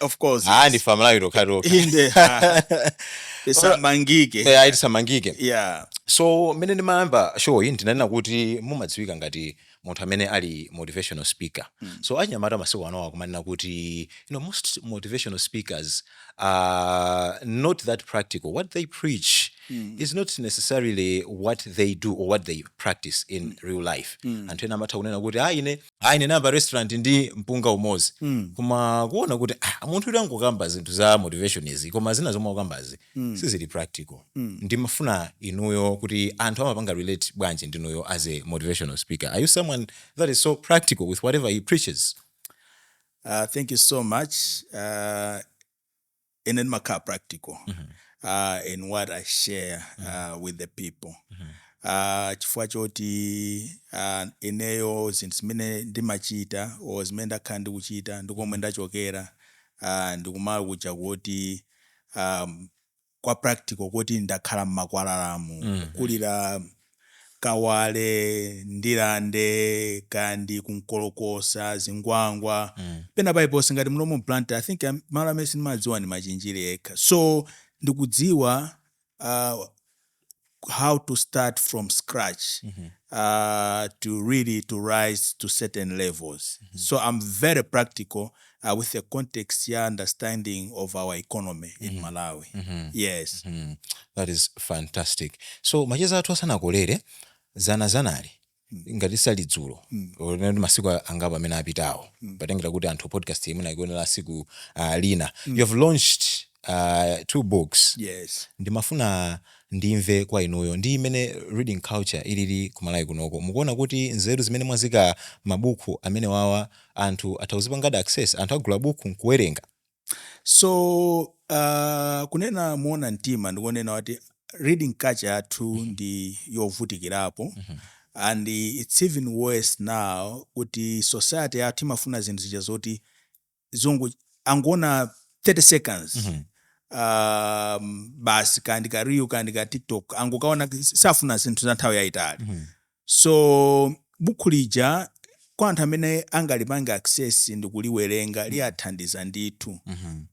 of course ah ndife amalawi tokha tokha inde ha. tisamangike Eh, ayi tisamangike yeah so mmene ndimayamba show iyi ndinanena kuti mumadziwika ngati munthu amene ali motivational speaker mm. so achinyamata masiku anowa kumanena kuti you know, most motivational speakers are not that practical what they preach mm. is not necessarily what they do or what they practice in mm. real life mm. anthu ena amatha kunena kuti ah ine ayi ndinayamba restaurant ndi mpunga umodzi mm. koma kuona kuti ah, munthu uyu akungokamba zinthu za motivation izi koma zina zomwe akukambazi mm. sizili practical mm. ndimafuna inuyo kuti anthu amapanga relate bwanji ndinuyo as a motivational speaker are you someone that is so practical with whatever he preaches uh, thank you so much uh, ine ndimakhala practical uh, in what i share uh, with the people uh, chifukwa choti uh, ineyo zinthu zimene ndimachita o zimene ndakhala ndikuchita ndi komwe ndachokera uh, ndikumalo kuja kuti um, kwa practical kuti ndakhala mmakwalalamu mm. kukulira Kawale, Ndirande, kaya ndi ku Nkolokosa, Zingwangwa, pena paliponse ngati muno mu Blantyre, I think malo amene sindimadziwa ndi Machinjiri ekha. So ndikudziwa how to start from scratch to really to rise to certain levels. So I'm very practical uh, with the context ya understanding of our economy mm -hmm. in Malawi mm -hmm. yes mm -hmm. that is fantastic so macheza athu asanakolere zana zanali mm. ngati sali dzulo mm. masiku angapo amene apitawo mm. potengera kuti anthu podcast imene akuionera tsiku uh, lina mm. you have launched uh, two books yes. ndimafuna ndimve kwa inuyo ndi mmene reading culture ilili kumalawi kunoko mukuona kuti nzeru zimene mwaziika m'mabuku amene awawa anthu atha kuzipangadi access anthu agula bukhu nkuwerenga. So uh, kunena moona mtima ndikonena kuti reading culture yathu mm -hmm. ndi yovutikirapo mm -hmm. and it's even worse now kuti society yathu imafuna zinthu zija zoti zongo angona 30 seconds mm -hmm. Um, basi kaya ndi ka reel kaya ndi ka tiktok angokaona safuna zinthu za nthawi yayitali mm -hmm. So bukhu lija kwa anthu amene angalipange access ndikuliwerenga liwathandiza ndithu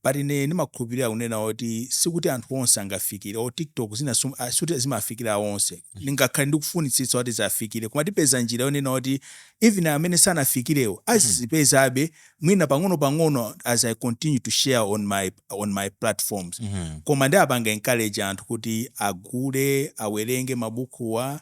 but ine ndimakhulupirira kunena kuti sikuti anthu onse angafikire or tiktok zina sum- ah, sikuti zimafikira onse ndingakhale ndikufunitsitsa kuti ziwafikire koma tipeza njira yonena kuti even amene sanafikirewo azizipezabe mwina pang'ono pang'ono as i continue to share on my, on my platforms koma ndiwapange encourage anthu kuti agule awerenge mabukuwa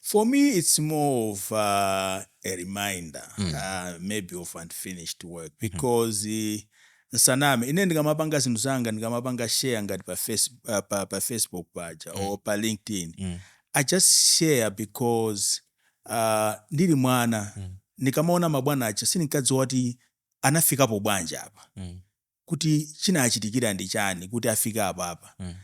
For me it's more of uh, a reminder mm. uh, maybe of unfinished work mm-hmm. because mm. nsaname ine ndikamapanga zinthu zanga ndikamapanga share ngati pa, face, uh, pa, pa facebook paja mm. or pa linkedin mm. i just share because uh, ndili mwana mm. ndikamaona mabwana aja sindinkadziwa kuti anafikapo bwanji apa mm. kuti chinachitikira ndi chani kuti afike apapa mm.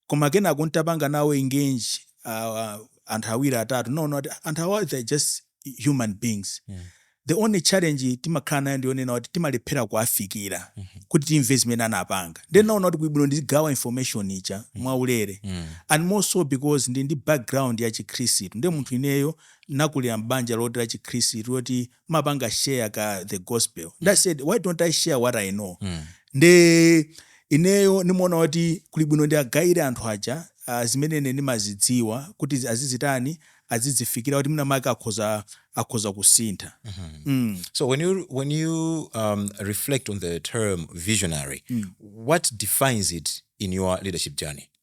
koma kenako ntapanga nawo engage uh, anthu awiri atatu no no anthu awa they're just human beings mm. the only challenge timakhala nayo ndiyonena kuti timalephera kuafikira mm -hmm. kuti timve zimene anapanga then naona kuti kuli bwino ndizigawa information ija mm. mwaulere mm. and more so because ndi ndi background ya chikhristu ndi munthu ineyo nakulira mbanja loti la chikhristu loti timapanga share ka the gospel mm. ndasaid why don't i share what i know mm. nde ineyo nimaona kuti kuli bwino ndiagayire anthu aja uh, zimene ine ndimazidziwa kuti azizitani azizifikira kuti mwina make akhoza akhoza kusintha mm -hmm. mm. so when you, when you um, reflect on the term visionary mm. what defines it in your leadership journey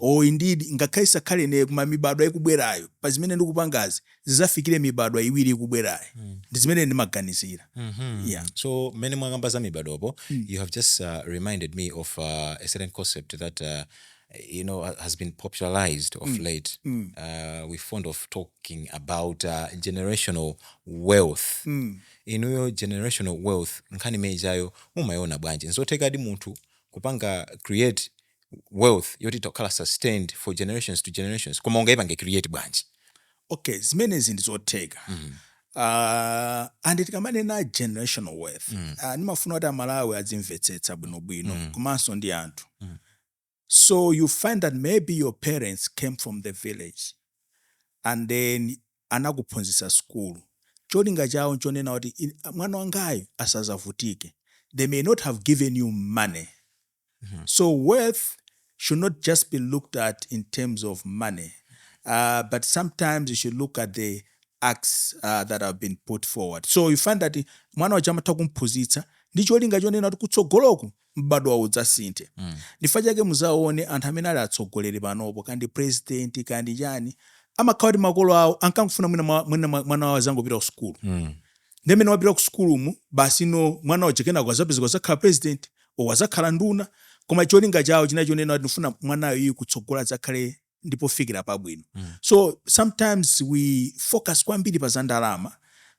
O, indidi, ngakhale isakhale ine, koma mibadwo ikubwerayo, pa zimene ndikupangazi, zidzafikire mibadwo iwiri ikubwerayo. Ndi zimene ine ndimaganizira. Ya. So, mmene mwakamba za mibadwopo, you have just uh, reminded me of uh, a certain concept that uh, you know ha- has been popularized of late. Uh, we fond of talking about uh, generational wealth. Inuyo generational wealth nkhani imenejayo mumayiona bwanji? Nzothekadi munthu kupanga create wealth yoti itha kukhala sustained for generations to generations koma ungaipange create bwanji? Ok zimenezi ndi zotheka aah and tikamanena generational wealth aah ndimafuna kuti a Malawi adzimvetsetsa bwino bwino komanso ndi anthu so you find that maybe your parents came from the village and then anakuphunzitsa sukulu cholinga chawo nchonena kuti mwana wangayu asazavutike they may not have given you money so wealth should not just be looked at in terms of money uh, but sometimes you should look at the acts uh, that have been put forward so you find that mwana uja amatha kumphunzitsa ndi cholinga chonena kuti kutsogoloku m'badwowo udzasinthe. Ndichifukwa chake muzaona anthu amene ali atsogoleri panopo kaya ndi president kaya ndi chani amakhala kuti makolo awo ankangofuna mwina mwa, mwina mwa, mwana wawo azangopita ku sukulu nde mmene wapita ku sukulumu basi no mwana uja kenako azapezeka kuzakhala president or azakhala nduna koma cholinga chawo chinali chonena kuti ndifuna mwanayo uyu kutsogolo azakhale ndi pofikira pabwino mm. so sometimes we focus kwambiri pa za ndalama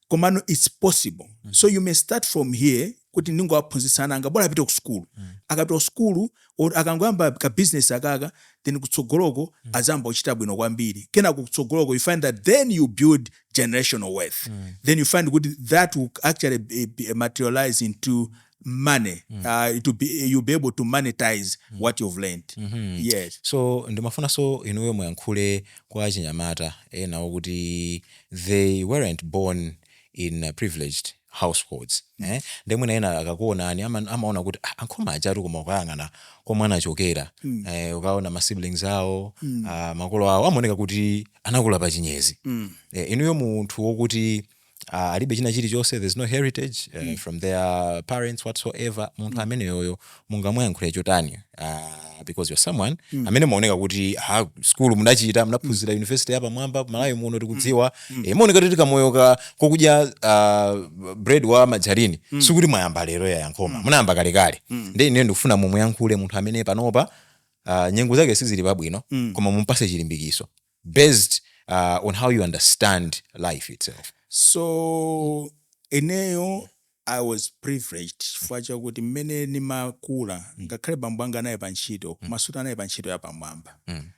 komano its possible mm -hmm. so you may start from here kuti ndingowaphunzitsa ana anga bola apite ku sukulu mm. akapita ku sukulu akangoyamba ka business akaka then kutsogoloko mm. azayamba kuchita bwino kwambiri kenako kutsogoloko you find that then you build generational wealth mm. then you find kuti that will actually be, be materialize into money mm. uh, it will be, you'll be able to monetize mm. what you've learned mm -hmm. yes so ndimafunanso inuyo muyankhule kwa achinyamata enawo kuti they weren't born in uh, privileged households mm. eh? nde mwina ena akakuonani amaona ama kuti ah, a Nkhoma ajatu koma ukayang'ana komwe anachokera mm. eh, ukaona masiblings awo mm. uh, makolo awo amaoneka kuti anakula pa chinyezi mm. eh, inuyo munthu wokuti Ah, alibe china chilichonse there's no heritage uh, mm. from their parents whatsoever munthu mm. ameneyoyo mungamuyankhule chotani uh, because you're someone mm. amene maoneka kuti ha skulu mudachita munaphunzira mm. university ya pamwamba malawi mm. muno tikudziwa mm. e, eh, maoneka kuti kamoyo ka kokudya uh, bread wa margarine mm. sikuti mwayamba lero yayi a Nkhoma mm. munayamba kalekale mm. nde ine ndikufuna mumuyankhule munthu amene panopa uh, nyengo zake sizili pabwino mm. koma mumpase chilimbikiso based uh, on how you understand life itself so ineyo i was privileged chifukwa chakuti mmene ndimakula ngakhale bambo anga anali pa ntchito amasta anali pa ntchito yapamwamba Mm.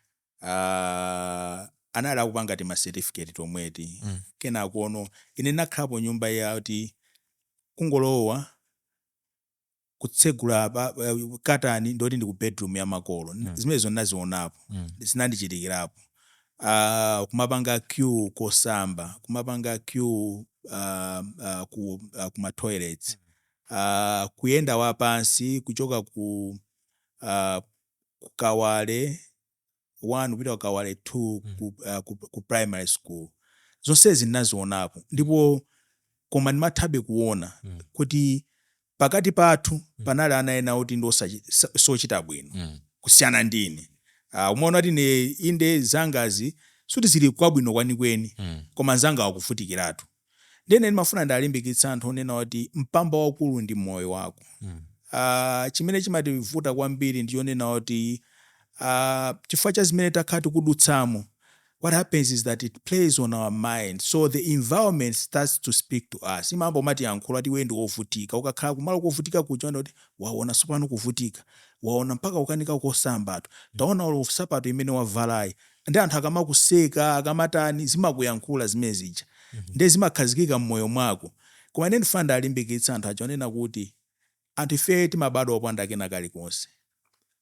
Ah, anali akupanga ti macertificate tomweti Mm. kenakono ine nakhalapo nyumba yati kungolowa kutsegula pa, pa, katani ndiyoti ndi ku bedroom ya makolo mm. zimenezo ndinazionapo mm. zinandichitikirapo uh, kumapanga queue kosamba kumapanga queue uh, uh, ku, uh, kuma toilets uh, kuyenda wapansi kuchoka ku uh, ku Kawale 1 kupita ku Kawale 2 mm. ku, uh, ku, ku primary school zonsezi ndinazionapo ndipo koma ndimathabe kuona mm. kuti pakati pathu mm. panali ana ena oti ndi osachita bwino mm. kusiyana ndi ine uh, umaona kuti ine inde zangazi suti zili kwabwino kwenikweni mm. koma nzanga akuvutikiratu Ndiye ine ndimafuna ndialimbikitse anthu kunena kuti mpamba waukulu ndi moyo wako. Aaa chimene chimativuta kwambiri ndi chonena kuti aaa chifukwa cha zimene takhala tikudutsamo what happens is that it plays on our mind so the environment starts to speak to us imayamba kumatiyankhula kuti iweyo ndi wovutika. Ukakhala kumalo kovutika kuja umaona kuti waona tsopano kuvutika, waona mpaka kukanika kusambatu, taona olo nsapato imene wavalayo, nde anthu akamakuseka akamatani zimene akuyankhula zimene zija nde zimakhazikika mmoyo mwako koma ine ndifuna ndalimbikitse anthu aja onena kuti anthu ifeyo timabadwa opanda kena kalikonse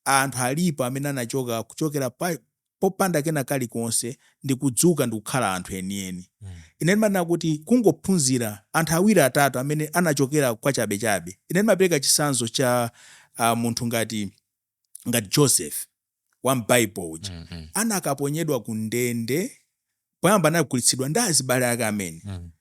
anthu alipo amene anachoka kuchokera pa popanda kena kalikonse ndikudzuka ndikukhala anthu enieni ine ndimanena kuti kungophunzira anthu awiri atatu amene anachokera kwachabechabe ine ndimapereka chitsanzo cha ah, munthu ngati ngati Joseph wa m'Bible uja mm -hmm. anakaponyedwa ku ndende poyamba anagulitsidwa ndi azibale ake amene mm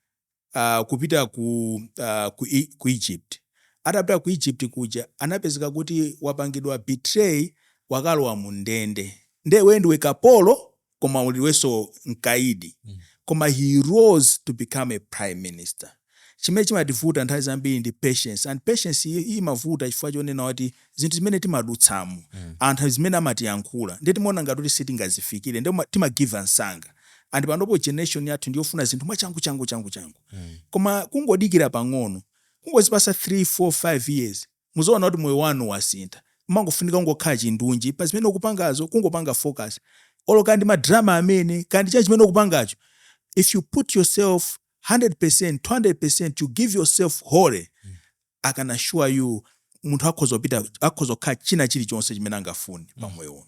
-hmm. uh, kupita ku, uh, ku, ku Egypt atapita ku Egypt kuja anapezeka kuti wapangidwa betray wakalowa mu ndende nde we ndiwe kapolo koma uli iwenso mkaidi mm. koma he rose to become a prime minister chimene chimativuta nthawi zambiri ndi patience and patience imavuta chifukwa chonena kuti zinthu zimene timadutsamo mm. anthu zimene amatiyankhula ndiye timaona ngati kuti sitingazifikire ndi timagiva msanga and panopo generation yathu ndiyofuna zinthu mwachangu changu changu changu mm. koma kungodikira pang'ono kungozipasa 3 4 5 years muzaona kuti moyo wanu wasintha. Umangofunika kungokhala chindunji pa zimene ukupangazo kungopanga focus olo kaya ndi ma drama amene kaya ndi chani chimene ukupangacho if you put yourself 100% 200% you give yourself wholly I can assure you munthu akhoza kupita akhoza kukhala china chilichonse chimene angafune pa moyo uno.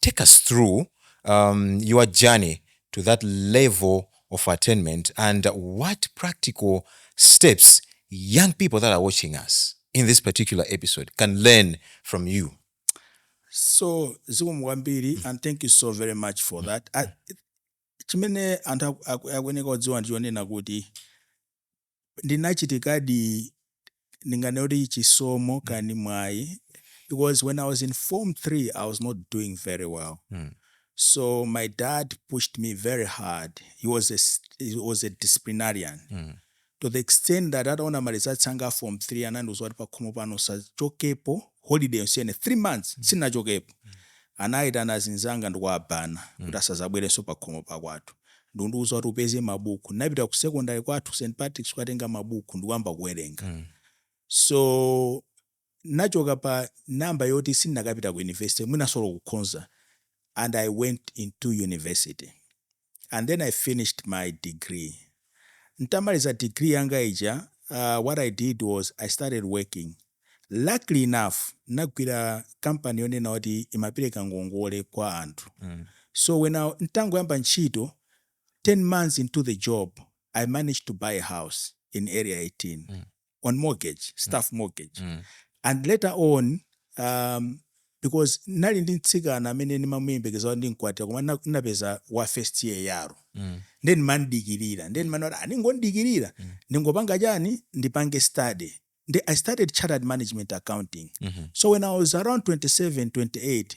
take us through um, your journey to that level of attainment and what practical steps young people that are watching us in this particular episode can learn from you so zikomo kwambiri and thank you so very much for that I, chimene anthu akuyeneka kudziwa ndichonena kuti ndinachitadi ndinganene kuti chisomo kani mwayi because when i was in form 3 i was not doing very well mm. so my dad pushed me very hard he was a, he was a disciplinarian mm. to the extent that ataona malizatsi anga a form 3 anandiuza kuti pakhomo pano usachokepo holiday yonse ino 3 months mm. sinachokepo mm. Anaitana azinzanga ndi kuwaban'a kuti asazabwerenso pakhomo pakwathu. Ndikundiuza kuti upeze mabuku. Napita ku secondary kwathu, St Patrick's kukatenga mabuku ndikuyamba kuwerenga. So, ndinachoka pa number yoti sinakapita ku university, mwinanso olo kukhonza, and I went into university. and then I finished my degree. Ntamaliza degree yanga ija, uh, what I did was I started working. Luckily enough, nagwira company yonena kuti imapereka ngongole kwa anthu. Mm. So when I ntangoyamba ntchito 10 months into the job, I managed to buy a house in area 18. Mm. on mortgage staff mortgage Mm. and later on um, because nali ndi mtsikana amene nimamuyembekeza kuti ndimkwatira koma nna- ndinapeza wa first year yaro Mm. nde nimamdikirira nde mmalo moti ndingodikirira ndingopanga chani ndipange study Ndi- i started chartered management accounting Mhm. so when i was around 27 28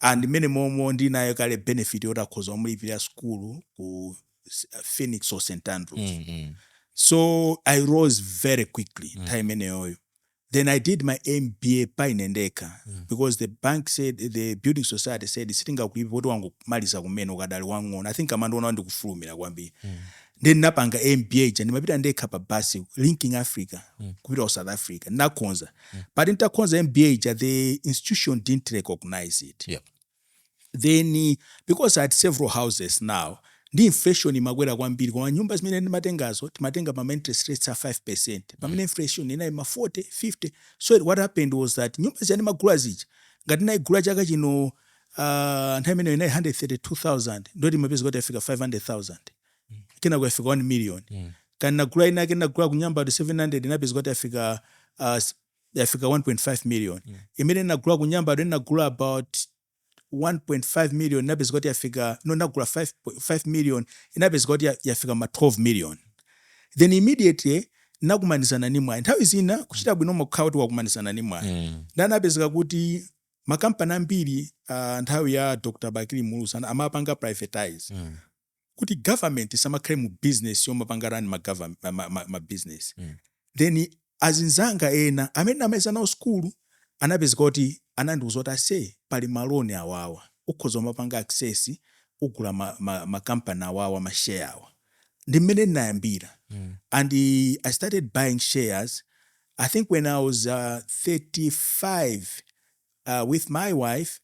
and mmene momo ndili nayo kale benefit yoti akhoza kumandilipirira school ku S- phoenix or st andrews Mm, mm. so i rose very quickly mm. nthawi imeneyoyo then i did my mba pa ine ndekha mm. because the bank said the building society said sitingakulipire poti wangomaliza kumene ukadali wang'ono i think amandiona kuti ndikufulumira kwambiri mm. ndiye ndinapanga mba ija ndimkapita ndekha pa bus linking africa mm. kupita ku south africa ndinakhonza mm. but nditakhoza mba ija the institution didn't recognize it yep. then because i had several houses now ndi inflation imakwera kwambiri koma nyumba zimene ndimatengazo timatenga pama interest rates a 5 percent pamene mm. inflation inali ma 40 50 so what happened was that nyumba zija ndimagula zija ngati ndinayigula chaka chino uh, nthawi imeneyo inali 132000 ndiye umapeza kuti yafika 500000 kenako yafika 1 million kenako nagula inayake nagula ku Nyambadwe 700 inapeza kuti yafika uh, s- yafika 1.5 million imene nagula ku Nyambadwe nagula about 1.5 million inapeza kuti yafika no nagula 5, 5 million inapeza kuti ya- yafika ma 12 million then immediately nakumanizana ni mwayi nthawi zina kuchita bwino umakhala kuti wakumanizana ni mwayi Mm. ndiye anapezeka kuti makampani ambiri uh, nthawi ya dr bakili muluzi ana- amapanga privatize Mm. kuti government isamakhale mu business yomapanga run ma, govern- ma, ma, ma, ma business Mm. then azinzanga ena amene ndinamaliza nawo skulu anapezeka kuti anandiuza kuti ase pali maloni awawa ukhoza umapanga access kugula ma, ma, ma company awawa ma share awa ndi mmene ndinayambira Mm. and uh, I started buying shares. I think when I was uh, 35, uh, with my wife,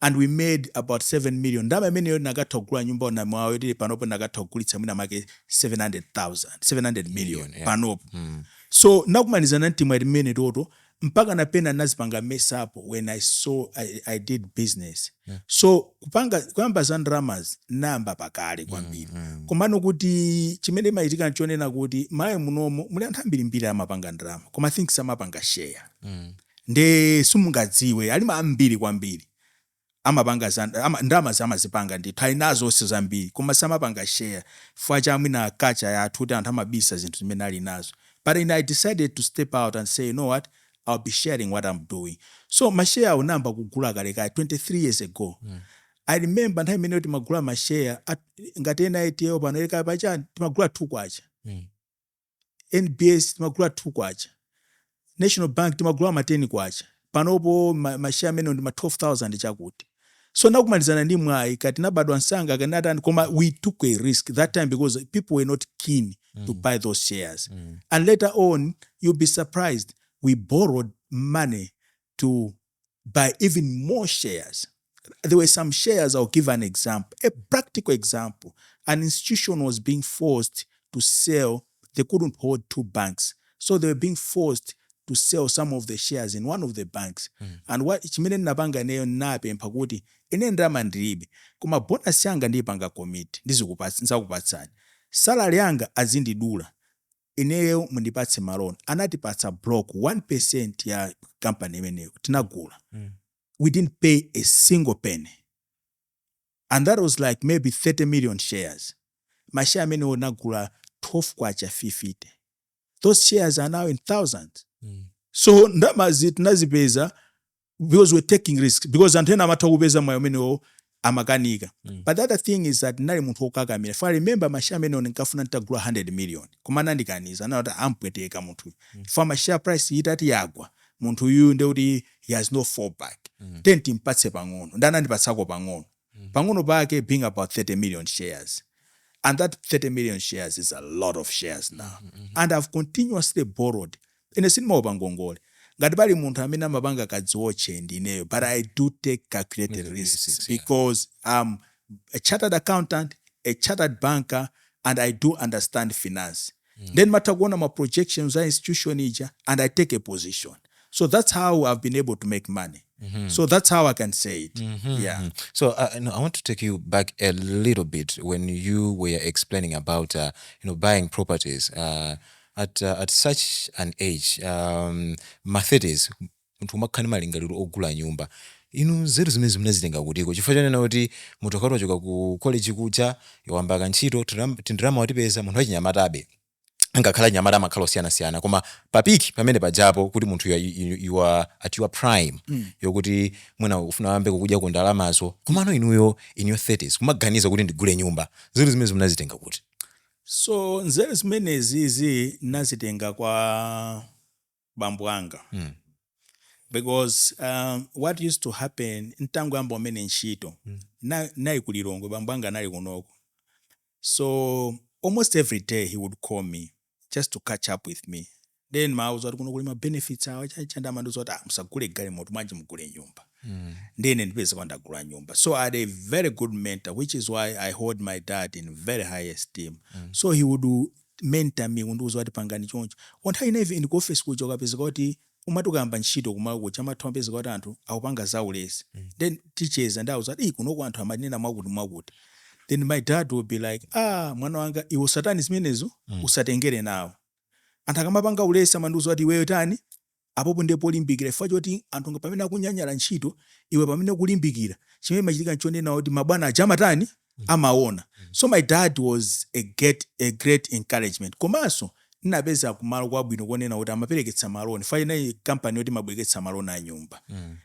and we made about 7 million ndalama imeneyo tinakatha kugula nyumba ku Namiwawa yoti panopo tikhoza kugulitsa mwina make 700,000 700 million yeah. panopo mm. so nakumanizana mtimu ati mmene toto mpaka na pena nazipanga mess up when i saw i, I did business yeah. so kupanga kuyamba za ndalamazi nayamba pakale kwambiri mm, mm. komano kuti chimene chimachitika nchonena kuti Malawi munomo muli anthu ambiri ambiri amapanga ndalama koma i think samapanga share mm. nde simungadziwe ali ambiri kwambiri amapanga za ama, ndalamazi amazipanga ndithu ali nazonso zambiri koma samapanga share chifukwa cha mwina culture yathu kuti anthu amabisa zinthu zimene ali nazo but ine i decided to step out and say you know what i'll be sharing what i'm doing so mashare awo ndinayamba kugula kalekale 23 years ago mm. i remember nthawi imeneyo timagula mashare ngati ena etiyo pano eleka pachani timagula 2 kwacha mm. NBS timagula 2 kwacha, National Bank timagula ma 10 kwacha, panopo ma, ma share amenewo ndi ma 12000 chakuti. So nakumanizana ndi mwayi kati nabadwa msanga akanatani koma we took a risk that time because people were not keen mm. to buy those shares. Mm. And later on you'll be surprised we borrowed money to by even more shares. There were some shares, I'll give an example, a practical example. An institution was being forced to sell, they couldn't hold two banks. So they were being forced to sell some of the shares in one of the banks mm. and chimene ndinapanga ineyo ndinapempha kuti ine ndalama ndilibe koma bonasi yanga ndiyipanga commit ndizakupatsani salary yanga azindidula ineyo mundipatse ma loan anatipatsa block 1 percent ya kampani imeneyo tinagula mm. we didn't pay a single penny and that was like maybe 30 million shares mashare amenewo tinagula 12 kwacha 50 those shares are now in thousands mm. so ndamazi tinazipeza because we're taking risks because anthu ena amatha kupeza mwayi umenewo amakanika mm. but the other thing is that ndinali munthu wokakamira if i remember mashare amenewo ndinkafuna nditagula ma 100 million koma anandikaniza anati timpweteka munthuyu mm. chifukwa ma share price itati yagwa munthu uyu ndekuti he has no fallback mm. then timpatse pang'ono nde anandipatsako pang'ono mm. pang'ono pake being about 30 million shares and that 30 million shares is a lot of shares now mm -hmm. and i've continuously borrowed Ine sindimaopa ngongole. Ngati pali munthu amene amapanga kadziotche ndi ineyo but I do take calculated risks because am a chartered accountant, a chartered banker and I do understand finance nde ndimatha kuona ma projections a institution ija and I take a position so that's how I've been able to make money so that's how I can say it yeah. So uh, no, I want to take you back a little bit when you were explaining about uh, you know buying properties. Uh, at at such an age um mma 30s munthu kumakhala ndi malingaliro ogula nyumba inu nzeru zimenezi munazitenga kuti chifukwa chonena kuti munthu akati wachoka ku college kuja wayamba ka ntchito tiram- tindalama watipeza munthu wachinyamatabe ngakhale anyamata amakhala osiyanasiyana koma pa peak pamene pajapo kuti munthu you are, you, you are at your prime yokuti mwina ukufuna uyambe kukudyako ndalamazo komano inuyo in your 30s kumaganiza kuti ndigule nyumba nzeru zimenezi munazitenga kuti So nzeru zimenezizi ndinazitenga kwa bambo anga mm. because um, what used to happen nditangoyamba kumene ntchito mm. ndi, ndinali ku lilongwe bambo anga anali kunoko so almost every day he would call me just to catch up with me ndiye ndimawauza kuti kuno kuli ma benefits awa chanichani nde amandiuza kuti ah, musagule galimoto bwanji mugule nyumba mm. ndiye ine n'kupezeka ndagula nyumba so i had a very good mentor which is why i hold my dad in very high esteem mm. so he would mentor me kundiuza kuti pangani choncho komanso nthawi zina even ndi ku office kuja ukapezeka kuti umati ukayamba ntchito kumalo kuja amathu amapezeka kuti anthu akupanga zaulesi mm. then tikucheza ndikuwauza kuti "Ih, kunoko anthu amanena zakuti zakuti then my dad would be like ah mwana wanga iwe usatani zimenezo usatengere nawo Anthu akamapanga ulesi amandiuza kuti iweyo tani, apopo ndiye polimbikira chifukwa choti anthu pamene akunyanyala ntchito, iwe pamene ukulimbikira, chimene chimachitika n'chonena kuti mabwana aja amatani, amaona. So my dad was a great, a great encouragement. Komanso ndinapezeka kumalo kwabwino konena kuti amaperekeka ma loan chifukwa inali company yoti imabwereketsa ma loan a nyumba.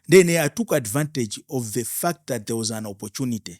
Ndiye ineyo I took advantage of the fact that there was an opportunity.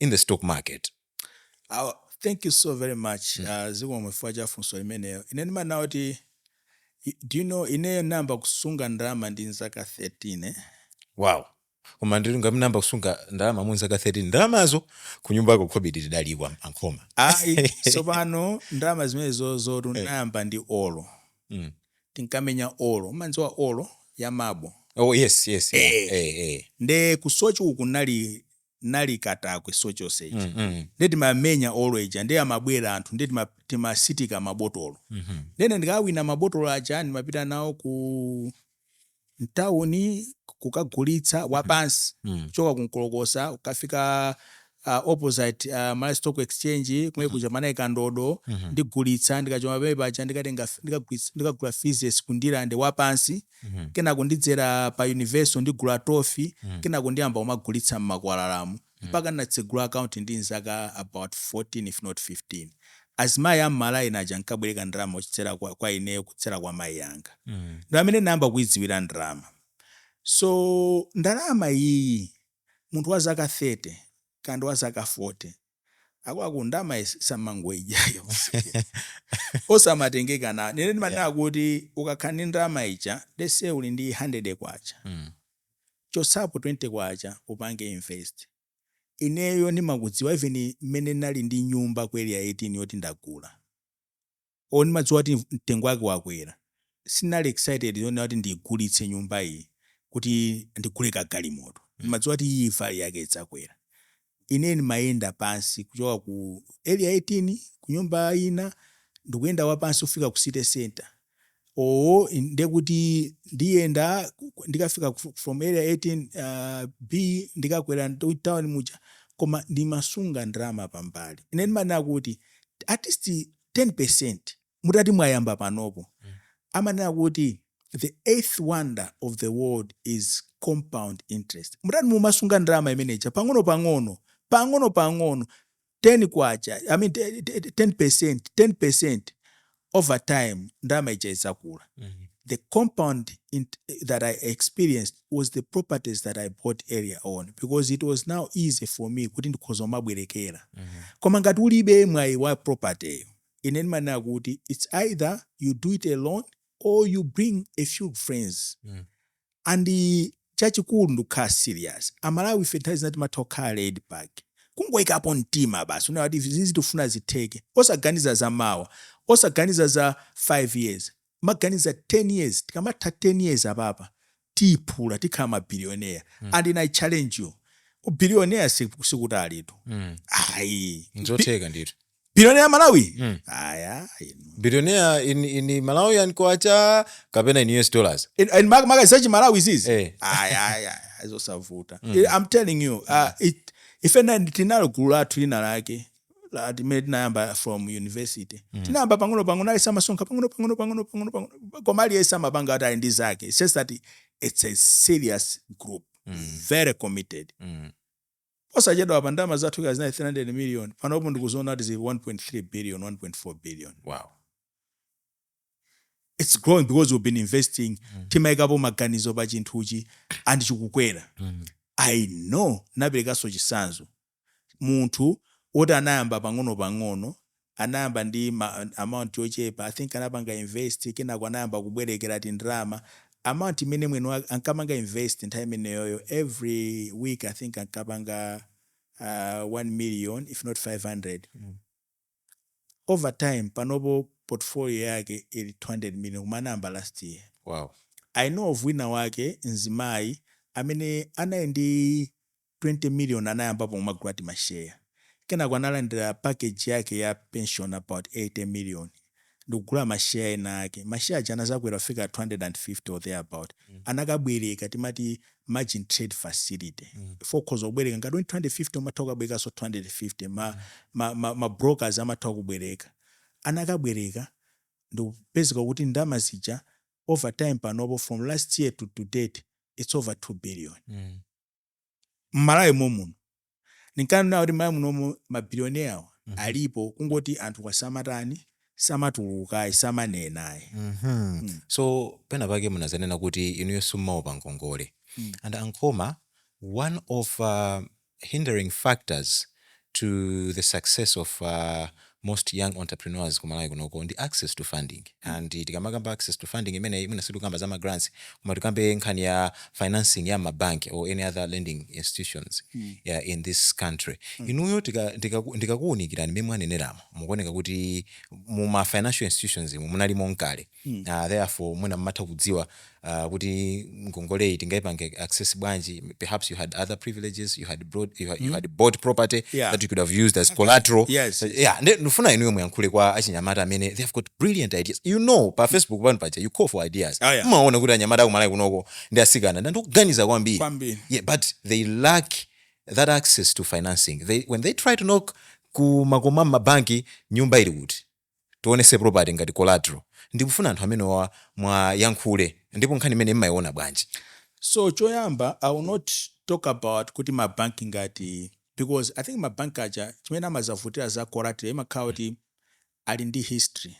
in the stock market Aw, thank you so very much uh, zikomo chifukwa cha funso limenelo ine ndimanena kuti i- do you know ineyo nayamba kusunga ndalama ndi nzaka 13 eh? wow koma ndiye ngati munayamba kusunga ndalama mu nzaka 13 ndalamazo kunyumbako khobidi tidaliwa ankhoma ayi tsopano ndalama zimenezozotu nayamba ndi olo Mm. tinkamenya olo umanziwa olo ya mabo oh yes yes yeah. Eh. eh, eh. nde ku Soche uku kunali nali katakwe Soche East ija mm, mm. nde timamenya olo ija nde amabwera anthu nde tima- timasiteka mabotolo Mhm. nde ndikawina mabotolo aja ndimapita nawo ku mtawuni kukagulitsa wapansi Mm. kuchoka ku Nkolokosa kukafika uh, opposite uh, malawi stock exchange kumene kuja kunali Kandodo ndigulitsa ndikachoka pamene paja ndikatenga ndikagulitsa- ndikagula freezes ku Ndirande wapansi kenako ndidzera pa Universal ndigula Toffee, kenako ndiyamba kumagulitsa mmakwalalamo mpaka ndinatsegula account ndi nzaka about 14 if not 15. Azimayi a mma line aja ankabwereka ndalama kudzera kwa ineyo kudzera kwa mayi anga. Ndi pamene ndinayamba kuidziwira ndalama. So ndalama iyiyi munthu wa zaka 30 kaya ndi wa zaka 40. akwaku ndama is- osamangoidya ayi osamatengeka nayo ine ndimanena kuti ukakhala ndi ndama ija let's say uli ndi 100 kwacha Mm. uchotsepo 20 kwacha upange invest ineyo ndimakudziwa even mmene nali ndi nyumba ku area 18 yoti ndagula or ndimadziwa kuti mtengo wake wakwera sindinali excited zonena kuti ndiigulitse nyumba iyi kuti ndigule ka galimoto ndimadziwa kuti iyi value yake idzakwera ine ndimayenda pansi kuchoka ku area 18 ku nyumba ina ndikuyenda wapansi kufika ku city center olo ndekuti ndiyenda ndikafika from area 18 uh, b ndikakwera town muja koma ndimasunga ndalama pambali ine ndimanena kuti artist 10%, mutati mwayamba panopo, amanena kuti the eighth wonder of the world is compound interest. Mutati mumasunga ndalama imene ija pang'onopang'ono, pang'onopang'ono, K10, I mean 10%, 10%, over time ndalama ija idzakula. The compound int that I experienced was the properties that I bought earlier on because it was now easy for me kuti ndikhoza kumabwerekera mm -hmm. koma ngati ulibe mwayi wa property ine ndimanena kuti it's either you do it alone or you bring a few friends mm. and chachikulu ndikukhala serious amalawi ife nthawi zina timatha kukhala laid back kungoyikapo mtima basi kunena kuti izizi tifuna zitheke osaganiza za mawa osaganiza za 5 years maganiza 10 years tikamatha 10 years apapa tiyiphula tikhala ma billionaire mm. and i challenge you ubillionaire si kutalitu mm. ayi nzotheka ndithu billionaire malawi mm. aya billionaire in, in malawi and kwacha kapena in us dollars in, in makwacha a malawi izizi eh. aya aya zosavuta mm. i'm telling you uh, mm. it, ife tinalo gulu lathu lina lake lomwe tinayamba from university tinayamba pang'ono pang'ono aliyese amasonkha pang'ono pang'ono pang'ono pang'ono pang'ono koma aliyese amapanga kuti ali ndi zake it's just that it's a serious group very committed Mm. osachedwa apa ndalama zathu zija zinali 300 million panopo ndikuziona kuti zili 1.3 billion 1.4 billion Wow. it's growing because we've been investing timayikapo maganizo pa chinthuchi and chikukwera i know naperekanso chisanzo munthu oti anayamba pang'ono pang'ono anayamba ndi amount yochepa i think anapanga invest kenako anayamba kubwerekera tindalama amount imene mwini wake ankapanga invest nthawi imeneyoyo every week i think ankapanga uh, 1 million if not 500 over time panopo portfolio yake ili 200 million koma anayamba last year. Wow. I know of winawake mzimayi amene anali ndi 20 million anayambapo kumagula timashare kenako analandira package yake ya pension about 80 million ndikugula ma share ena ake ma share aja anazakwera kufika 250 or thereabout anakabwereka timati margin trade facility chifukwa ukhoza kubwereka ngati uli ndi 250 umatha kukabwerekanso 250 ma, ma, ma, ma brokers amatha kukubwereka anakabwereka nkupezeka kuti ndalama zija over time panopo from last year to to date it's over 2 billion mmalawi mommuno ndinkanena kuti mmalawi munomu mabilioneawo Mhm. alipo kungoti anthu kwasamatani samatulukayi samanenayi Mhm. Mm. so pena pake munazanena kuti inuyo simmaopa ngongole Mm. and nankhoma one of uh, hindering factors to the success of most young entrepreneurs ku Malawi kunoko ndi access to funding and tikamakamba access to funding imeneyi mwina sitikukamba za ma grants koma tikambe nkhani ya financing ya mma bank or any other lending institutions yeah, in this country. Inuyo tika- ndikaku- ndikakuonani mmene mwaneneramo mukuoneka kuti mu ma financial institutions umu munalimo nkale. therefore mwina mmatha kudziwa kuti ngongoleyi tingaipange access bwanji, perhaps you had other privileges, you had brought, you had, you had bought property Yeah. that you could have used as collateral. Yes. Yeah, nde ndifuna inuyo muyankhule kwa achinyamata amene they have got brilliant ideas. You know, pa Facebook pano paja you call for ideas. Ah, yeah. Mmaona kuti anyamata aku Malawi kunoko ndi asikana ndi anthu oganiza kwambiri. Kwambiri. Yeah, but they lack that access to financing. They, when they try to knock ku makomo a m'mabanki nyumba ili kuti tionese property ngati collateral ndikufuna anthu amenewawa muwayankhule ndipo nkhani imeneyi mmaiona bwanji? So choyamba I will not talk about kuti ma bank ngati because I think ma bank aja chimene amazavutira za collateral imakhala kuti ali ndi history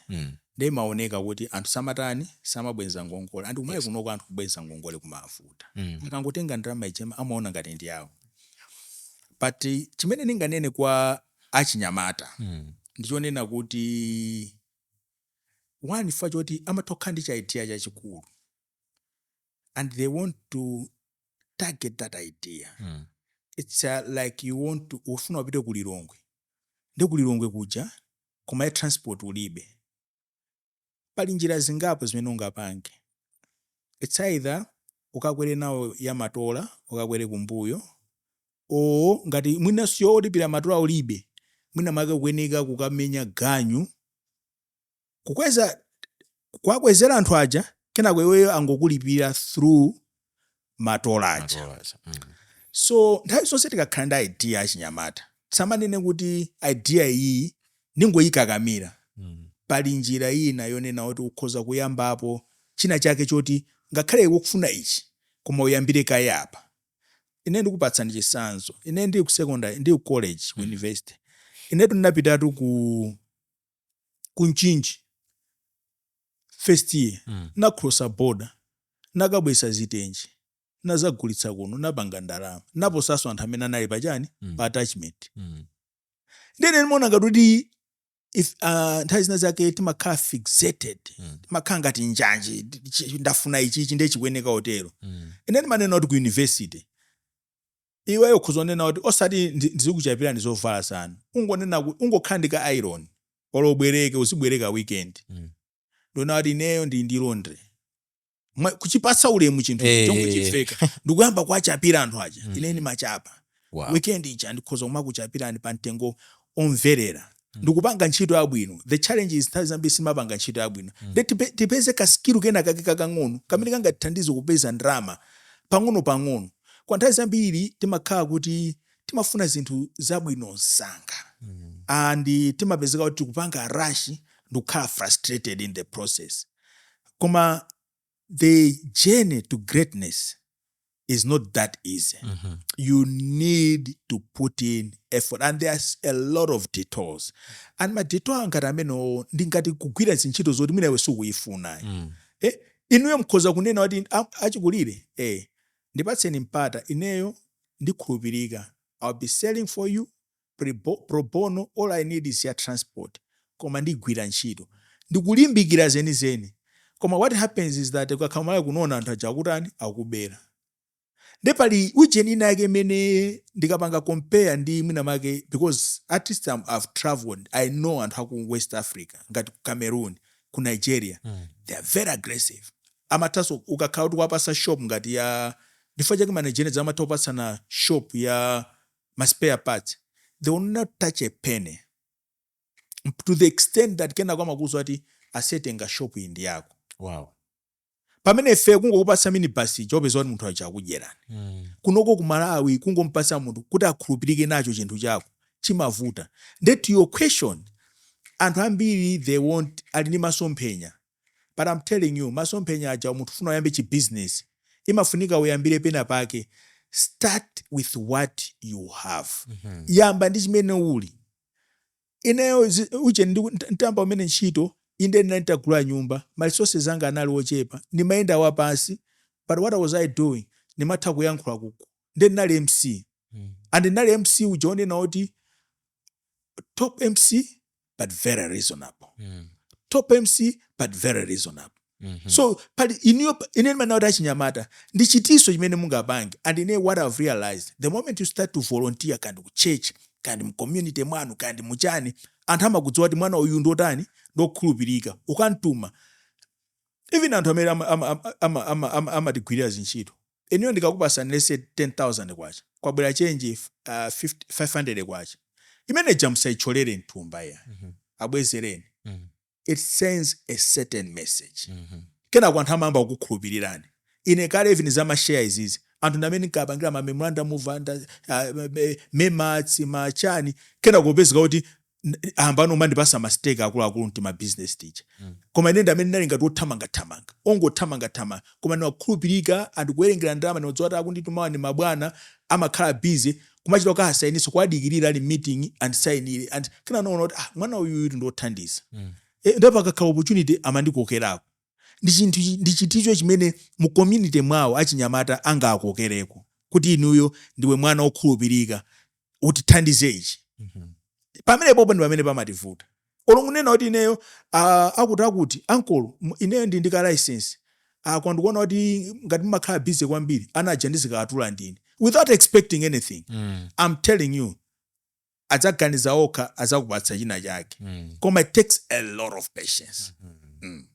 nde imaoneka kuti anthu samatani samabweza ngongole and kumene kunoko anthu kubweza ngongole kumavuta akangotenga ndalama ija amaona ngati ndi yawo but chimene ndinganene kwa achinyamata ndi chonena kuti, one, chifukwa choti umatha kukhala ndi chi idea chachikulu and they want to target that idea. It's like you want to, ufuna upite ku Lilongwe, ndiye ku Lilongwe kuja koma ya transport ulibe. Pali njira zingapo zimene ungapange. Its either ukakwere nawo ya matola ukakwere kumbuyo or ngati mwina yolipira matola ulibe mwina mwake ukuyenereka kukamenya ganyu kukweza kuwakwezera anthu aja kenako iweyo angokulipira through matola aja mm. so nthawi zonse tikakhala ndi idea achinyamata tisamanene kuti idea iyi ndingoyikakamira Mm. pali njira ina yonena kuti ukhoza kuyambapo china chake choti ngakhale iwe ukufuna ichi koma uyambire kaye apa ine ndikupatsani chitsanzo ine ndili ku secondary ndili ku college ku university inetu ndinapitatu ku ku Mchinji first year mm. nakulosa border nakabweretsa zitenje nadzagulitsa kuno napanga ndalama naposanso anthu amene anali pachani mm. pa attachment mm. nde ine ndimaona ngati kuti if uh, nthawi zina zake timakhala fixated mm. timakhala ngati njanji ndafuna ichichi nde chikuyeneka kutero mm. ine ndimanena kuti ku university Iweyo ukhoza kunena kuti osati ndi, ndizikuchapirani zovala zanu. Ungonena kuti ungokhala ndi ka iron or ubwereke uzibwereka weekend. Mm. Ndi kunena kuti ineyo ndili ndi laundry. Mwa kuchipatsa ulemu chinthu Eh, chonyozeka eh, eh.. Ndi kuyamba kuwachapira anthu aja. Mm. Ine ndimachapa. Wow. Weekend ija ndikhoza kumakuchapirani pa mtengo omverera. mm. ndi kupanga ntchito yabwino the challenge is nthawi zambiri sitimapanga ntchito yabwino mm. nde tipeze kaskilu kena kake kakang'ono kamene kangatithandize kupeza ndalama pang'ono pang'ono koma nthawi zambiri timakhala kuti timafuna zinthu zabwino msanga mm. and timapezeka kuti tikupanga rush ndi kukhala frustrated in the process koma the journey to greatness is not that easy. Mm -hmm. You need to put in effort and there's a lot of detours. And ma detour a ngati amenewo ndi ngati kugwira zintchito zoti mwina iwe sukuzifuna. Mm. Eh, inuyo mkhoza kunena kuti achikulire eh ndipatseni mpata ineyo ndi okhulupirika I'll be selling for you prebo, pro bono, all I need is ya transport koma ndigwira ntchito, ndikulimbikira zenizeni koma what happens is that ukakhala kumalawi kunono anthu aja akutani akubera nde pali ujeni ina yake imene ndikapanga compare ndi mwina mwake because at least I'm, I've traveled I know anthu aku West Africa ngati ku Cameroon ku Nigeria mm. they are very aggressive amathaso ukakhala kuti wapasa shop ngati ya Ndirande chake managers amatha kupatsana shop ya ma spare parts they will not touch a penny to the extent that kenako amakuuza kuti aise tenga shop iyi ndi yako pamene ife kungokupatsa minibus ija upeza kuti munthu uja akudyerani mm. kunoko ku malawi kungompatsa munthu kuti akhulupirike nacho chinthu chako chimavuta nde to your question anthu ambiri they want ali ndi masomphenya but am telling you masomphenya aja munthu ufuna uyambe chi business imafunika uyambire pena pake start with what you have yamba ndi chimene uli nacho ineyo zi- uje ndi- nta- ntayamba kumene ntchito inde ndinali nditagula nyumba ma resources anga anali ochepa ndimayenda wapansi but what was i doing ndimatha kuyankhula ku ukwati nde ndinali mc and ndinali mc uja onena kuti top mc but very reasonable mm. top mc but very reasonable Mm -hmm. so pali inuyo ine ndimanena kuti achinyamata ndi chiticho chimene mungapange and ine what i've realized the moment you start to volunteer kandi ku church kandi mu community mwanu kandi muchani anthu amakudziwa kuti mwana uyu ndotani ndokhulupirika ukamtuma even anthu amene amatigwirira ama, ama, ama, ama zintchito Inuyo ndikakupasani let's say K10,000 pabwera change uh, K500 imene ija musaitcholere mthumba ya mm -hmm. abwezereni mm -hmm. it sends a certain message mm -hmm. kenako anthu amayamba kukukhulupirirani ine kale even za mashare izizi anthu ndi amene ndinkapangira ma memorandum of uh, ma MEMARTS machani kenako upezeka kuti aah pano amandipasa mastake akuluakulu mtima business tija mm. koma ine ndi amene ndinali ngati othamangathamanga ongothamangathamanga koma ndimakhulupirika anthu kuwerengera ndalama ndimadziwa kuti akunditumawa ndi mabwana amakhala busy kumachita kuti usayinitse kuwadikirira ali mmeeting andisayinire and kenako anaona kuti ah, mwana uyuyu ndi othandiza mm. e, ndipo pakakhala opportunity amandikokerako ndi chinthu ndi chiticho chimene mu community mwawo achinyamata angakokereko kuti inuyo ndiwe mwana okhulupirika utithandize ichi mhm. pamene apopo ndi pamene pamativuta olo kunena kuti ineyo akuti akuti ankolo ineyo ndi ndi ka license kanga ndikuona kuti ngati mumakhala busy kwambiri ana aja ndizikawatula ndine without expecting anything mm. i'm telling you adzaganiza okha azakupatsa china chake mm. koma it takes a lot of patience mm -hmm. mm.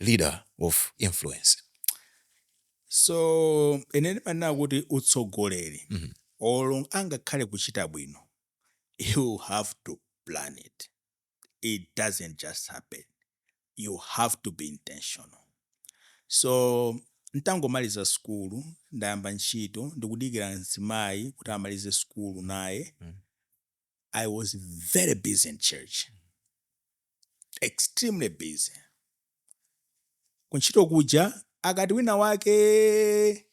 leader of influence. So ine ndimanena kuti utsogoleri mm -hmm. olo angakhale kuchita bwino you have to plan it it doesn't just happen you have to be intentional so ntangomaliza sukulu ndayamba ntchito ndikudikira mzimayi kuti amalize sukulu naye mm. i was very busy in church extremely busy kuntchito kuja akati wina wake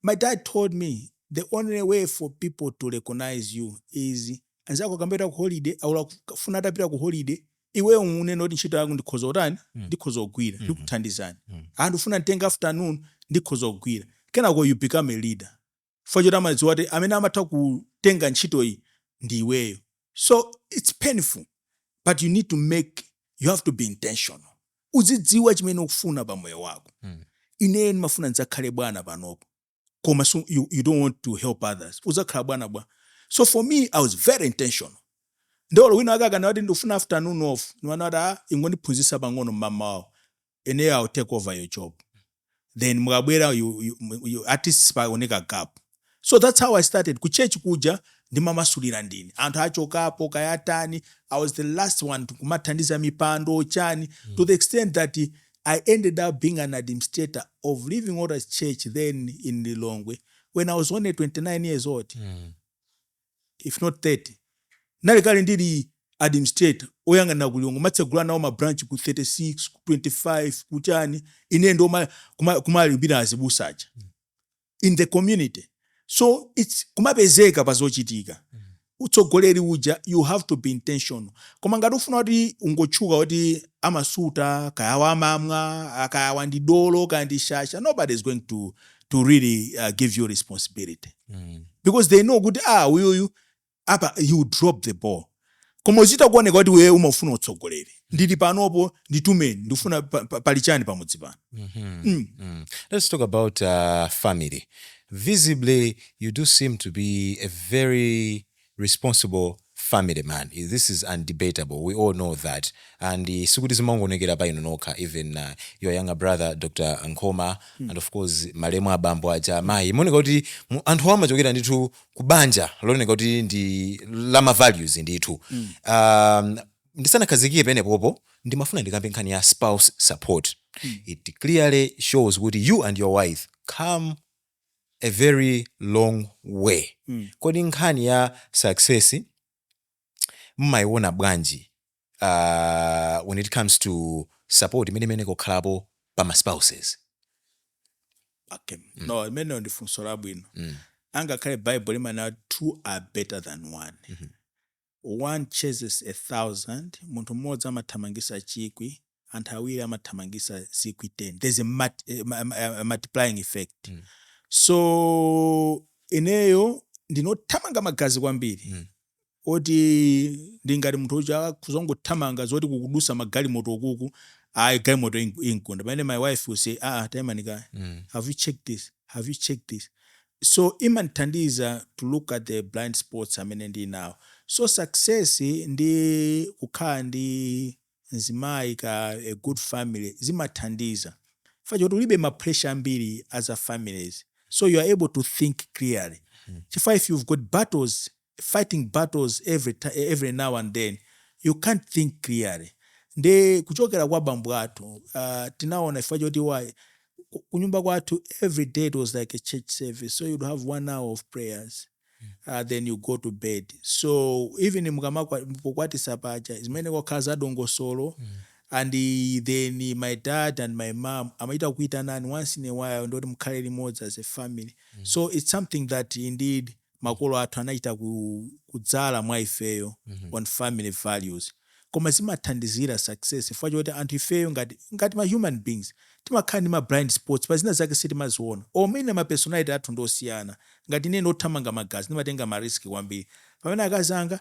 my dad told me the only way for people to recognize you is anzako akamapita ku holiday olo akufuna atapita ku holiday iweyo unene kuti ntchito yako ndikhoza kutani Mm. ndikhoza kugwira Mhm. ndikuthandizani Mm. anthu akufuna kutenga afternoon ndikhoza kugwira kenako you become a leader chifukwa choti amadziwa kuti amene amatha kutenga ntchitoyi ndi iweyo so its painful but you need to make you have to be intentional uzidziwa chimene ukufuna pa moyo wako mm. ineyo ndimafuna ndidzakhale bwana panopo koma so you, you don't want to help others udzakhala bwana bwanji so for me i was very intentional nde olo wina wake akanati ndikufuna afternoon off ndimanati a ah, ingondiphunzitsa pang'ono mmamawawo ineyo i'll take over your job then mukabwera you, you, you, at least sipaoneka gap so that's how i started ku church kuja ndimamasulira ndine anthu achokapo kayatani i was the last one to- kumathandiza mipando chani to the extent that i ended up being an administrator of living waters church then in lilongwe when i was only 29 years old if not 30 ndinali kale ndili administrator oyang'anira ku Lilongwe ndimatsegula nawo ma branch ku 36 ku 25 kuchani ine ndi oma kuma, kumalipira azibusa aja in the community so it's kumapezeka pa zochitika utsogoleri uja you have to be intentional koma ngati ufuna kuti ungotchuka kuti amasuta kaya amamwa kaya wandidolo kaya ndi shasha nobody is going to to really uh, give you responsibility mm. because they know kuti ah uyuyu apa you drop the ball koma uchita kuoneka kuti wewe umafuna utsogoleri ndili panopo nditumeni ndifuna pali chani pamudzi pano mm-hmm. mm. mm. let's talk about uh, family visibly you do seem to be a very responsible family man this is undebatable we all know that and sikuti zimangoonekera pa inu nokha even uh, your younger brother Dr Nkhoma mm. and of course malemu abambo aja mayi zimaoneka kuti mu- anthu amachokera ndithu ku banja looneka kuti ndi la ma values ndithu mm. um, ndisanakhazikike penepopo ndimafuna ndikambe nkhani ya spouse support mm. it clearly shows kuti you and your wife come a very long way kodi nkhani ya success mumaiona bwanji uh, when it comes to support imene imayenera kukhalapo pa ma spouses okay. no imeneyo ndi funso labwino angakhale bible limanena two are better than one One chases a thousand, munthu mmodzi amathamangisa chikwi, anthu awiri amathamangisa zikwi ten, there's a multiplying effect, so ineyo ndine wothamanga magazi kwambiri moti ndili ngati munthu uja akhoza kungothamanga zoti kukudutsa magalimoto ukuku ayi galimoto imgunda pamene my wife will say aah taimani kaye have you checked this, have you checked this, So imandithandiza to look at the blind spots amene ndili nawo. So success ndi kukhala ndi mzimayi ka a good family zimathandiza chifukwa choti ulibe ma pressure ambiri a za families so you are able to think clearly chifukwa if you've got battles fighting battles every ti every now and then you can't think clearly nde kuchokera kwa bambo athu uh, tinaona chifukwa choti wa ku- kunyumba kwathu every day it was like a church service so you'd have one hour of prayers uh, then you go to bed so even mukamakwatitsa paja zimenezo kumakhala za dongosolo and eh, then my dad and my mom amachita kutiitana once in a while kuti mukhale limodzi as a family so it's something that indeed makolo athu anachita ku kudzala mwa ifeyo mm -hmm. on family values koma zimathandizira success chifukwa choti anthu ifeyo ngati ngati ma human beings timakhala ndi ma blind spots pa zina zake sitimaziona or mwina ma personality athu ndi osiyana ngati ine ndothamanga magazi ndimatenga ma risk kwambiri pamene akazi anga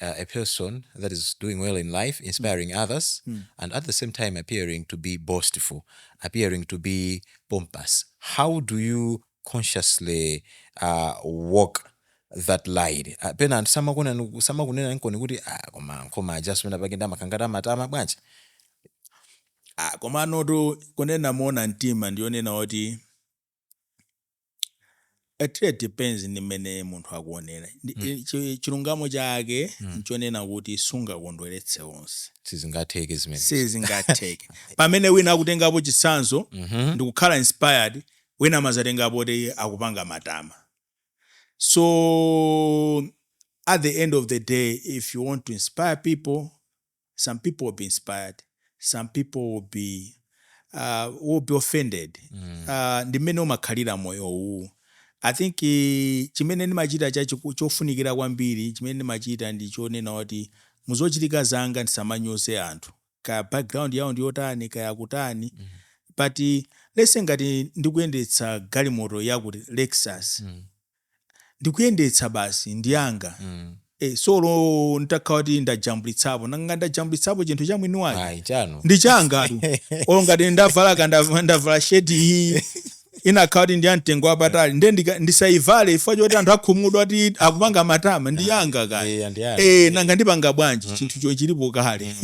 a person that is doing well in life, inspiring others, and at the same time appearing to be boastful, appearing to be pompous. How do you consciously uh, walk that line? Uh, pena anthu samakuona- samakunena nkomwe kuti "Ah, koma nkhoma ajaso pena pake ndamakangata amatama bwanji Ah, komanotu kunena moona mtima ndiyonena kuti it really depends ndi mmene munthu akuonera. Ndi- Mm. eh, chi- chilungamo chake Mm. nchonena kuti sungakondweretse onse sizingatheke zimene sizingatheke pamene wina akutengapo chitsanzo Mhm. ndikukhala inspired wina amadzatengapo kuti akupanga matama so at the end of the day if you want to inspire people some people will be inspired some people will be, uh, will be offended mm. uh, ndi mmene timakhalira moyo uwu i think uh, chimene ndimachita chofunikira kwambiri chimene ndimachita ndi chonena kuti muzochitika zanga ndisamanyoze anthu kaya background yawo ndiyotani kaya kutani mm. but let's say ngati ndikuyendetsa galimoto yakuti lexus mm. ndikuyendetsa basi ndi yanga mm. e, so olo ntakhala kuti ndajambulitsapo nanga ndajambulitsapo chinthu cha mwini wake Ayi, chanu ndi changatu olo ngati ndavala ka ndav- ndavala sheti iyi itakhala kuti ndi ya mtengo wapatali nde ndika- ndisayivale chifukwa choti anthu akhumudwa kuti akupanga matama ndi yanga kale Eh, ndi anu. Eh, nanga ndipanga bwanji chinthu choti chilipo kale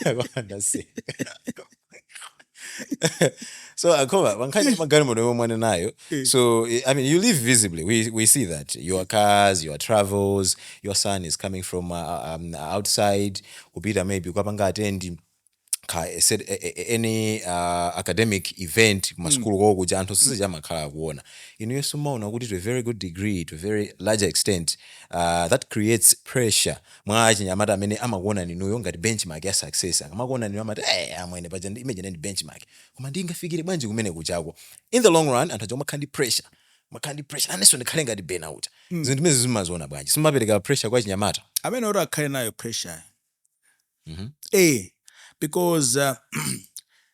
Akondanse. so koma pankhani ya magalimoto yomwe mwana nayo Eh. so eh, i mean you live visibly we, we see that your cars your travels your son is coming from uh, um, outside kupita maybe kwapanga attend ka- a set- a- a- a- any uh, academic event kumasukulu kwawo kuja anthu sisija amakhala akuona inunso mmaona kuti to a very good degree to a very larger extent uh, that creates pressure kwa achinyamata amene amakuonani inuyo ngati benchmark ya success. Akamakuonani inuyo amati, Eeeh amwene, paja ndi benchmark. Koma ndingafikire bwanji kumene kujako? In the long run, anthu aja amakhala ndi pressure, amakhala ndi pressure, nanenso ndikhale ngati Bena uja. Zinthu zimenezi mumaziona bwanji? Simumapereka pressure kwa achinyamata? Amene oti akhale nayo pressure-yo. Eeh, because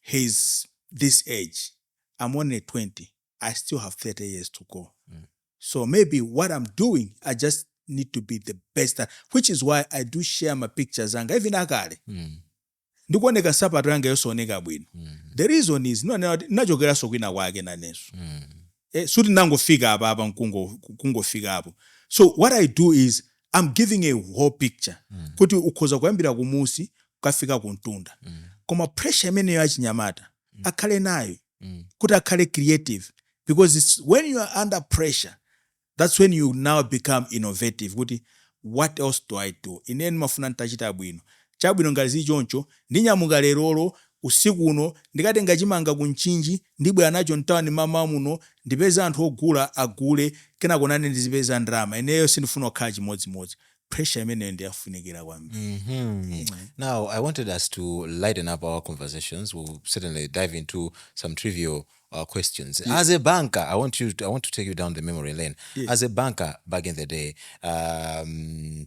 he is this age i'm only 20 i still have 30 years to go mm. so maybe what i'm doing i just need to be the best at, which is why i do share my pictures anga even akale mm. ndikuoneka nsapato yanga yosaoneka bwino mm. the reason is nachokeranso kwina kwake nanenso mm. eh, sikuti ndangofika apa apa nkungo kungofikapo so what i do is i'm giving a whole picture mm. kuti ukhoza kuyambira kumunsi kukafika kumtunda mm. koma pressure imeneyo achinyamata mm. akhale nayo mm. kuti akhale creative because it's when you are under pressure that's when you now become innovative kuti what else do i do ine ndimafuna nditachita bwino chabwino ngati zili choncho ndinyamuka lerolo Usiku uno ndikatenga chimanga ku Mchinji ndibwera nacho mtawni mamawa muno ndipeze anthu ogula agule kenako nane ndizipeza ndalama ineyo sindifuna kukhala chimodzimodzi pressure imeneyo ndiyofunikira kwambiri. Now I wanted us to lighten up our conversations, we'll certainly dive into some trivial questions. Yes. As a banker, I want you to, I want to take you down the memory lane. Yes. As a banker back in the day, um,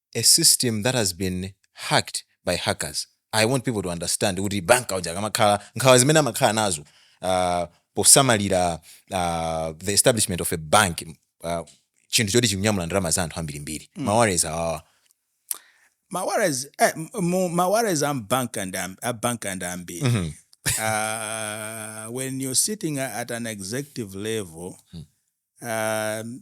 a system that has been hacked by hackers, I want people to understand kuti banker uja akamakhala, nkhawa zimene amakhala nazo posamalira the establishment of a bank, chinthu choti chikunyamula ndalama za anthu ambirimbiri, ma worries awo. Ma worries, eh, ma worries a banker ndi a banker ndi ambiri. Mm -hmm. uh, when you're sitting at an executive level, mm -hmm. um,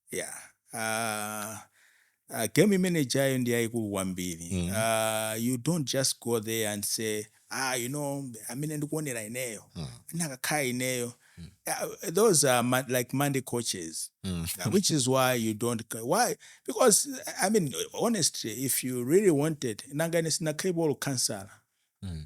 Yeah, game imene ijayo ndi yayikulu kwambiri. Mm. Uh, you don't just go there and say ah you know amene ndikuonera ineyo mm. nakakhala ineyo mm. uh, those are ma like monday coaches mm. uh, which is why you don't why because i mean honestly if you really wanted nanga ine sinakhale bolo kansala mm.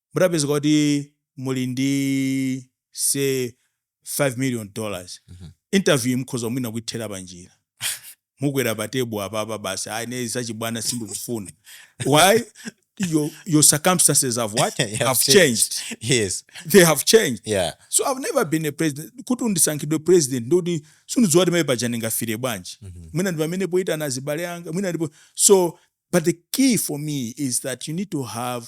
mutapezeka kuti muli ndi say 5 million dollars Mhm. interview mukhoza mwina kuithera panjira mukwera pa tebulo apapa basi ayi ne zachibwana sindikufuna why your, your circumstances have what Have have changed yes they have changed yeah so i've never been a president kuti ndisankhidwe president ndikuti sindidziwa kuti paja ndingafile bwanji Mhm. mwina ndi pamene ndoyitana azibale anga mwina ndipo so but the key for me is that you need to have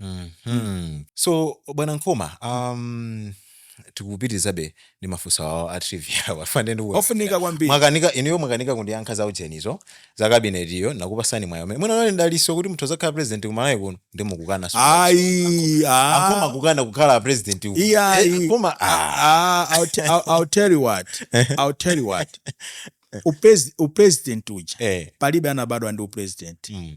Mhm. So, Bwana Nkhoma, um, tikupitirizabe ndi mafunso awo a trivia awa chifukwa ndiye ndikuona ofunika kwambiri mwakanika inuyo mwakanika kundiyankha za ujenizo za kabinetiyo nakupasani mwayi umene mwina nali ndaliso kuti muthu adzakhala president ku Malawi kuno ndiye mukukana so ayi ah. mukumakana kukhala president uku. Iya, Eh, i- koma ah, Ah, I'll, te- I'll, I'll tell you what. I'll tell you what. Upres- upresident uja eh, palibe anabadwa ndi upresident mm,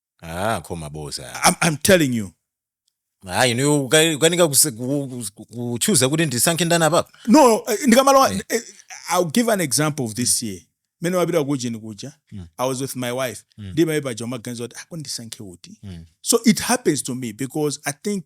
ah koma boza I'm, I'm telling you ah inu uka- ukanika kuse- ku- ku- kuchuza kuti ndisankhe ndani apapa no eh, ndikamalowa Eh. eh, i'll give an example of this year mene wapita kujeni kuja Mm. i was with my wife Mm. ndimaye paja umaganiza kuti akundisankhe uti Mm. so it happens to me because i think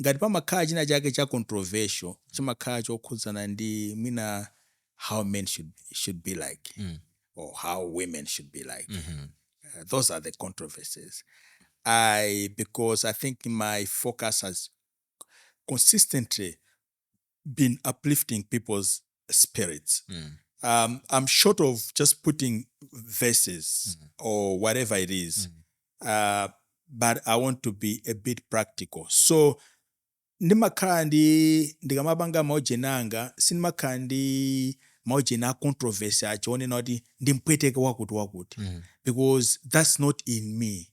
ngati pamakhala china chake cha controversial chimakhala chokhudzana ndi mwina how men should, should be like mm. or how women should be like mm -hmm. uh, those are the controversies i because i think my focus has consistently been uplifting people's spirits. Mm. Um, I'm short of just putting verses mm. or whatever it is, mm. uh, but I want to be a bit practical. So ndimakhala ndi ndikamapanga maujeni anga sindimakhala ndi maujeni a controversy acho onena kuti ndimpweteke wakuti wakuti mm. because that's not in me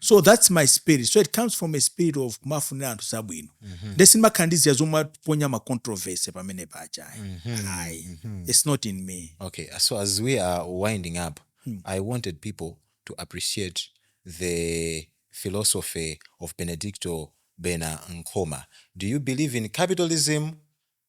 so that's my spirit so it comes from a spirit of kumafunira anthu zabwino mm-hmm. nde sindimakhala ndi ziya zomwe aponya ma controversy pamene paja ayi mm-hmm. ayi mm-hmm. it's not in me okay so as we are winding up hmm. i wanted people to appreciate the philosophy of benedicto bena nkhoma do you believe in capitalism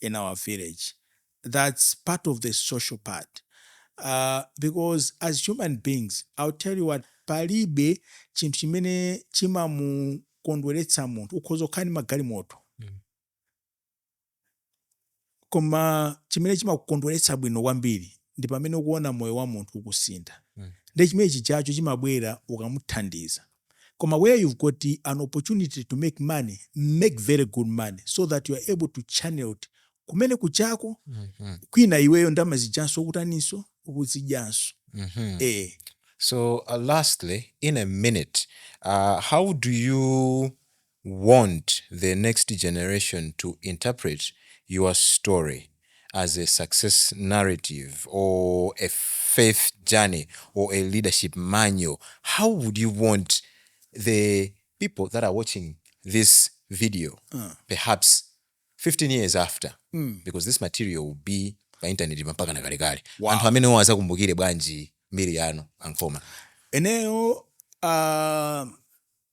in our village thats part of the social part because as human beings ill tell you what palibe chinthu chimene chimamukondweretsa munthu ukhoza kukhala ndi magalimoto koma chimene chimakukondweretsa bwino kwambiri ndi pamene ukuona moyo wa munthu ukusintha nde chimene chijacho chimabwera ukamuthandiza koma where you've got an opportunity to make money make very good money so that you're able to channelt kumene kuchako mm -hmm. kwina iweyo ndama zijanso ukutaninso ukuzijanso mm -hmm. eh. so uh, lastly in a minute uh, how do you want the next generation to interpret your story as a success narrative or a faith journey or a leadership manual, how would you want the people that are watching this video perhaps 15 years after because this material will be pa intaneti mpakana kalekale Wow. anthu amenewo azakumbukire bwanji mbiri yanu a Nkhoma Ineyo uh,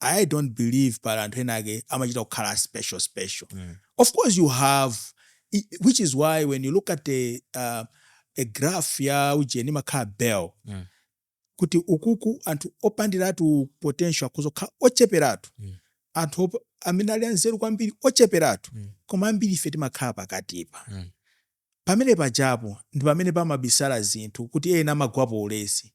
i dont believe pali anthu ena ake amachita kukhala a special special mm. of course you have which is why when you look at a, uh, a graph ya ujeni imakhala bell mm. kuti uku anthu opandiratu potential akungokhala ocheperatu mm. anthu amene ali anzeru kwambiri ocheperatu mm. koma ambiri ife timakhala pakatipa mm. Pamene pajapo ndi pamene pamabisala zinthu kuti ena amagwapo ulesi.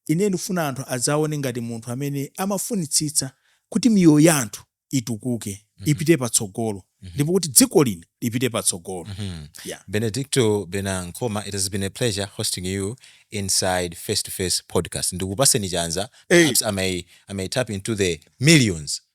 Ine ndikufuna anthu adzandione ngati munthu amene amafunitsitsa kuti miyoyo ya anthu itukuke, ipite patsogolo ndipo kuti dziko lino lipite patsogolo. Yeah. Benedicto Bena Nkhoma it has been a pleasure hosting you inside Face to Face podcast. Ndikupaseni chanza Hey. perhaps I may, I may tap into the millions.